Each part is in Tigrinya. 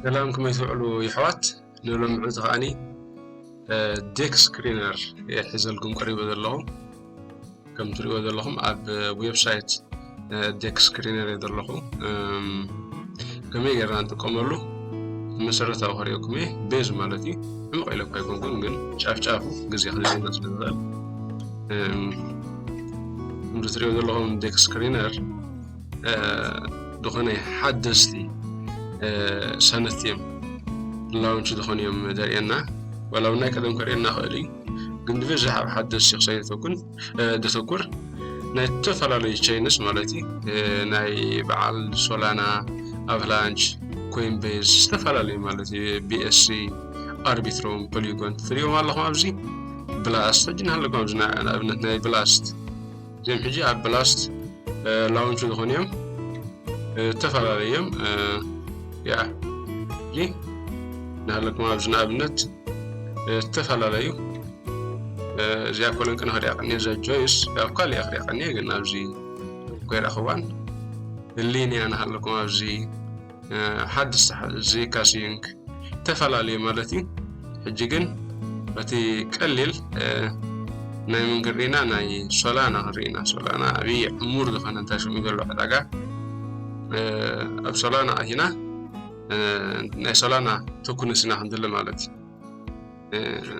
ሰላም ከመይ ትውዕሉ ይሕዋት ንሎሚ ዕልቲ ከዓኒ ዴክ ስክሪነር እየ ሒዘልኩም ቀሪበ ዘለኹ ከም ትሪእዎ ዘለኹም ኣብ ዌብሳይት ዴክ ስክሪነር እየ ዘለኹ ከመይ ጌርና ንጥቀመሉ መሰረታዊ ክሪኦኩም እየ ቤዝ ማለት እዩ ዕምቕ ኢለ እኳ ኣይኮንኩን ግን ጫፍጫፉ ግዜ ክንዘና ስለ ዝኽእል ከምዚ ትሪኦ ዘለኹም ዴክ ስክሪነር ዝኾነ ሓደስቲ ሰነት እዮም ላውንች ዝኾኑ እዮም ዘርእየና ዋላ እውን ናይ ቀደም ከርእየና ክእል እዩ ግን ብብዝሕ ኣብ ሓደስቲ ክሳይ ዘተኩን ዘተኩር ናይ ዝተፈላለዩ ቸይንስ ማለት እዩ ናይ በዓል ሶላና ኣቭላንች ኮይንቤዝ ዝተፈላለዩ ማለት እዩ ቢኤስሲ ኣርቢትሮም ፖሊጎን ትሪኦም ኣለኹም ኣብዚ ብላስት እጅን ኣለኩም ኣብዚ ንኣብነት ናይ ብላስት እዚኦም ሕጂ ኣብ ብላስት ላውንች ዝኾኑ እዮም ዝተፈላለዩ እዮም ያ እዚ ናሃለኩም ኣብዚ ንኣብነት ዝተፈላለዩ እዚኣ ኮለን ቅነ ክሪኣ ቀኒየ እዛ ጆይስ ኣብ ካልእ እያ ክሪኣ ቀኒየ ግን ኣብዚ ኮይረኽባን ህሊንያ ናሃለኩም ኣብዚ ሓድሽ ዝይካ ሲዩንግ ተፈላለየ ማለት እዩ ሕጂ ግን እቲ ቀሊል ናይ ምን ክንርኢና ናይ ሶላና ክንርኢና ሶላና ኣብይ ዕሙር ዝኾነ እንታይ ሽሙ ዘሎ ዕዳጋ ኣብ ሶላና ኣሂና ናይ ሶላና ተኩንስና ክንድለ ማለት እዩ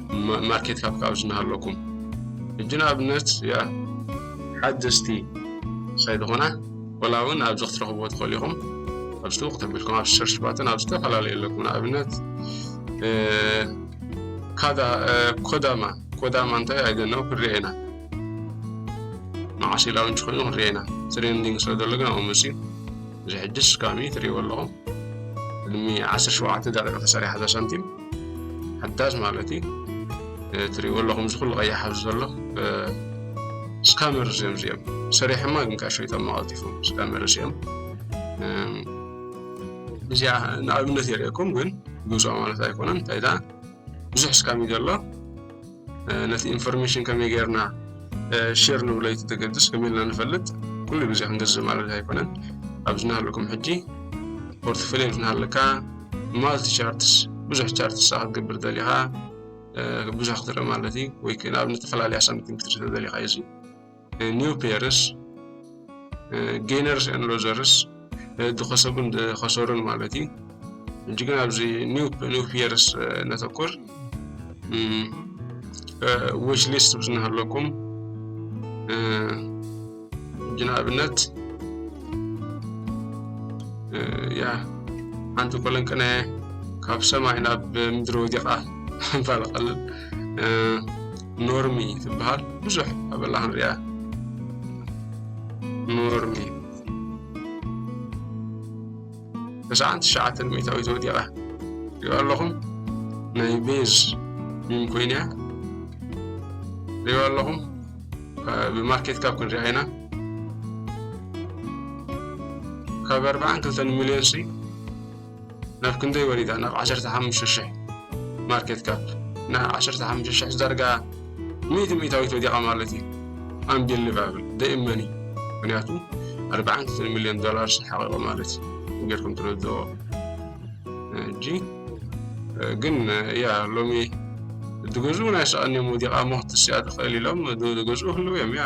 ማርኬት ካፕ ካብ ዝናሃለኩም ሕጂ ንኣብነት ያ ሓደስቲ ከይትኾና ወላ እውን ኣብዚ ክትረኽብዎ ትኽእሉ ኢኹም ኣብዚ ትውቅ ተቢልኩም ኣብ ሰርች ባትን ኣብ ዝተፈላለዩ ኣለኩም ንኣብነት ኮዳማ ኮዳማ እንታይ ኣይደነው ክንሪኦ ኢና መዓስ ኢላውንች ኮይኑ ክንሪኦ ኢና ትሬንዲንግ ስለ ዘሎ ግን ኣብኡ መፅዩ እዚ ሕጅስ ካሚ ትሪእዎ ኣለኹም ቅድሚ ዓሰርተ ሸውዓተ ደቂቕ ተሰሪሓ እዛ ሳንቲም ሓዳስ ማለት እዩ ትሪእዎ ኣለኹም እዚ ኩሉ ቀይሕ ኣብዚ ዘሎ ስካመርስ እዮም እዚኦም ሰሪሖማ ግን ከዓ ሸይጦማ ቀልጢፎም ስካመርስ እዮም እዚኣ ንኣብነት የርእየኩም ግን ግብፃ ማለት ኣይኮነን እንታይ ብዙሕ ስካም እዩ ዘሎ ነቲ ኢንፎርሜሽን ከመይ ጌርና ሼር ንብሎ እቲ ተገድስ ከመይ ኢልና ንፈልጥ ኩሉ ግዜ ክንገዝእ ማለት ኣይኮነን ኣብዚ ናሃለኩም ሕጂ ፖርትፎሊዮ እንትናሃለካ ማልቲ ቻርትስ ብዙሕ ቻርትስ ክትገብር ደሊኻ ብዙሕ ክትርኢ ማለት እዩ ወይ ንኣብነት ተፈላለያ ሳምቲንግ ክትርኢ ደሊኻ እዩ ኒው ፔርስ ጌነርስ ን ሎዘርስ ዝኸሰቡን ዝኸሰሩን ማለት እዩ እንጂ ግን ኣብዚ ኒው ፔርስ ነተኩር ዊሽ ሊስት ብዝናሃለኩም እንጂ ንኣብነት ያ ሓንቲ ኮለን ቅነ ካብ ሰማይ ናብ ምድሪ ወዲቓ ምባል ቀልል ኖርሚ ትበሃል ብዙሕ ኣበላ ክንሪያ ኖርሚ ተስዓን ትሽዓተን ሚእታዊት ወዲቓ ሪኦ ኣለኹም ናይ ቤዝ ሚም ኮይና ሪኦ ኣለኹም ብማርኬት ካብ ክንሪኣ ኢና ካብ ኣርባዓን ክልተን ሚልዮን ሲ ናብ ክንደይ ወሪዳ ናብ ዓሰርተ ሓሙሽተ ሽሕ ማርኬት ካፕ ናብ ዓሰርተ ሓሙሽተ ሽሕ ዳርጋ ሚእቲ ሚእታዊት ወዲቓ ማለት እዩ ኣምቢሊቫብል ደይመኒ ምክንያቱ ኣርባዓን ክልተን ሚልዮን ዶላር ሓቂቑ ማለት እዩ ጌርኩም ትረድዎ እጂ ግን ያ ሎሚ ድገዝኡ ናይ ሰቐን እዮም ወዲቓ እሞ ክትስያ ትኽእል ኢሎም ድገዝኡ ክህልው እዮም ያ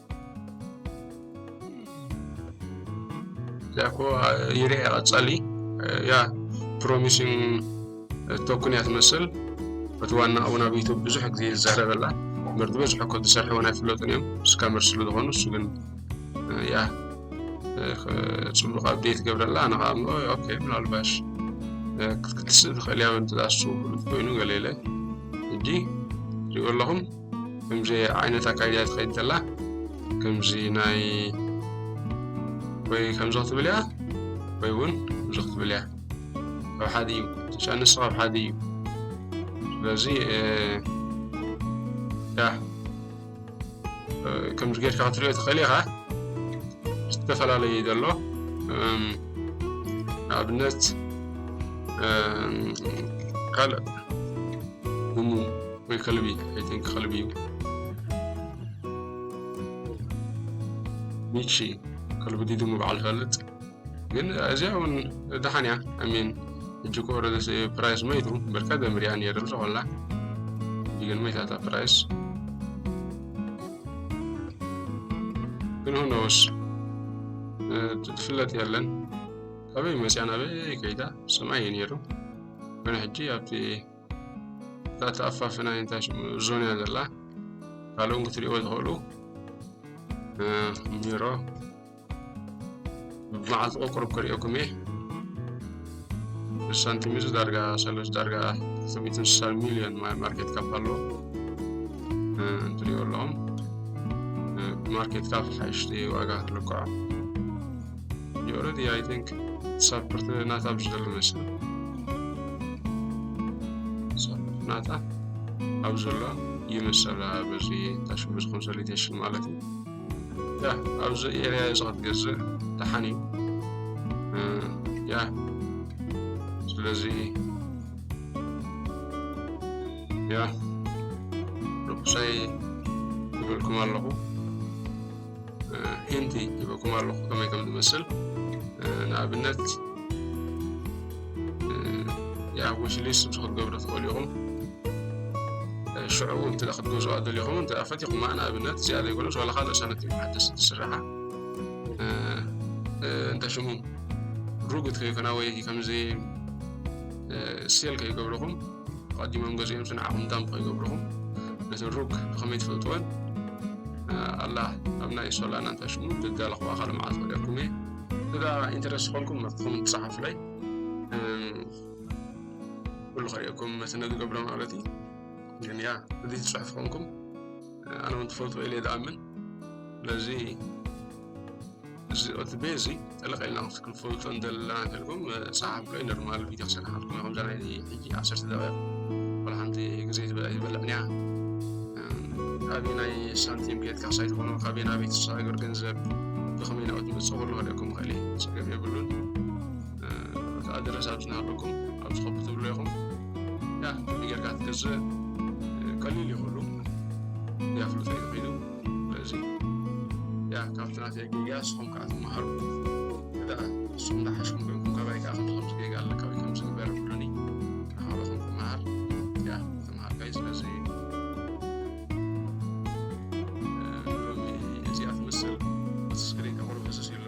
ያኮ ይርኤ ቀጸሊ ያ ፕሮሚሲን ቶክን እያ ትመስል እቲ ዋና እውን ኣብ ዩቱብ ብዙሕ ግዜ ዝዛረበላ ምርዲ በዝሖ እኮ ዝሰርሐ እውን ኣይፍለጡን እዮም ስካመር ስለ ዝኾኑ እሱ ግን ያ ፅቡቅ ኣብዴት ገብረላ ኣነ ከዓ ምኦ ኦኬ ምናልባሽ ክትስእ ትኽእል እያ እንተዳሱ ፍሉጥ ኮይኑ ገለ ኢለ ሕጂ ሪኦ ኣለኹም ከምዚ ዓይነት ኣካይዳ ትኸይድ ዘላ ከምዚ ናይ ወይ ከምዚ ክትብል እያ ወይ እውን ከምዚ ክትብል እያ ካብ ሓደ እዩ ተጫንስ ካብ ሓደ እዩ ስለዚ ያ ከምዚ ጌርካ ክትሪኦ ትኽእል ኢኻ ዝተፈላለዩ ዘሎ ንኣብነት ካልእ ወይ ከልቢ ኣይ ቲንክ ከልቢ እዩ ሚቺ ከልቢ ዲድሙ በዓል ፈልጥ ግን እዚኣ እውን ደሓን እያ ኣሚን እጅ ቆረ ፕራይስ መይቱ በርካ ደምርያ ነይረ ዝኾላ ግን መይታታ ፕራይስ ግን ሁኖስ ትፍለጥ የለን ካበይ መፅያ ናበይ ከይዳ ስማ እዩ ነይሩ ግን ሕጂ ኣብቲ እዛ ተኣፋፍና እንታይ ሽሙ ዞን እያ ዘላ ካልኦም ክትሪእዎ ዝኽእሉ ቢሮ ብመዓልቲ ቆቁርብ ክሪኦኩም እየ ሳንቲም እዚ ዳርጋ ሰለስ ዳርጋ ክልተ ስሳ ሚልዮን ማርኬት ካፕ ኣሎ እንትሪኦ ኣለኹም ማርኬት ካፕ ሓይሽቲ ዋጋ ልክዖ You already, I think, support ናታ ብዝደሉ መስለ support ናታ ኣብ ዘሎ ይመሰላ በዚ ታሽሙ ዝኾን ሰሊቴሽን ማለት እዩ ያ ኣብዚ ኤሪያ እዚ ክትገዝእ ደሓን እዩ ያ ስለዚ ያ ርኩሰይ ይብልኩም ኣለኹ ሂንቲ ይበኩም ኣለኹ ከመይ ከም ዝመስል ንኣብነት ያ ዊሽሊስ ምስ ክትገብሩ ትኽእሉ ኢኹም ሽዑ እንተ ክትገዝኦ ኣደሊኹም እንተ ፈቲኹማ ንኣብነት እዚኣ ዘይኮነስ ዋላ ካልእ ሳነት ሓደስ ትስራሓ እንተ ሽሙ ሩግት ከይኮና ወይ ከምዚ ሴል ከይገብርኹም ኣቐዲሞም ገዚኦም ስንዓኹም እንታይ ምኾ ይገብርኹም ነቲ ሩግ ብኸመይ ትፈልጥወን ኣላ ኣብ ናይ ሶላና እንታይ ሽሙ ግጋለኹ ኣኻል መዓት ወዲያኩም እየ እዛ ኢንተረስ ዝኾንኩም መክኹም ትፅሓፍለይ ኩሉ ከሪኦኩም መትነ ዝገብረ ማለት እዩ ግን ያ እዚ ዝፅሑፍ ኾንኩም ኣነ እውን ትፈልጥዎ ኢለ ዝኣምን ስለዚ እዚ ቅትቤ እዚ ጠለቕ ኢልና ክንፈልጦ እንደለና እንተልኩም ፀሓፍ ከ ኖርማል ቪድዮ ክሰርሓልኩም ከምዛ ናይ ሕጂ ዓሰርተ ደቂቕ ወላ ሓንቲ ግዜ ዝበልዕን እያ ካበይ ናይ ሳንቲም ጌትካ ሳይት ኾኖ ካበይ ናብ ቤት ሃገር ገንዘብ ብኸመይ ናብት ምፅእ ኩሉ ክእለኩም ይኽእል እዩ ፀገም የብሉን ኣድረስ ኣብቲ ናበኩም ኣብዚ ኮፒ ትብሎ ኢኹም ያ ከምዚ ጌርካ ትገዝእ ቀሊል እዩ ኩሉ ያፍልጦ እዩ ኮይኑ ስለዚ ያ ካብቲ ናተይ ጌጋ ንስኹም ከዓ ትመሃሩ እዳ ንስኹም እንዳሓሽኩም ኮይንኩም ካባይ ከዓ ከምዚ ከምዚ ጌጋ ኣለ ካበይ ከም ዝግበር ብሉኒ ንሃሮኹም ክመሃር ያ ተመሃርካይ ስለዚ እዚኣ ትመስል ስክሪን ከቕርብ ህስስ ኢሉ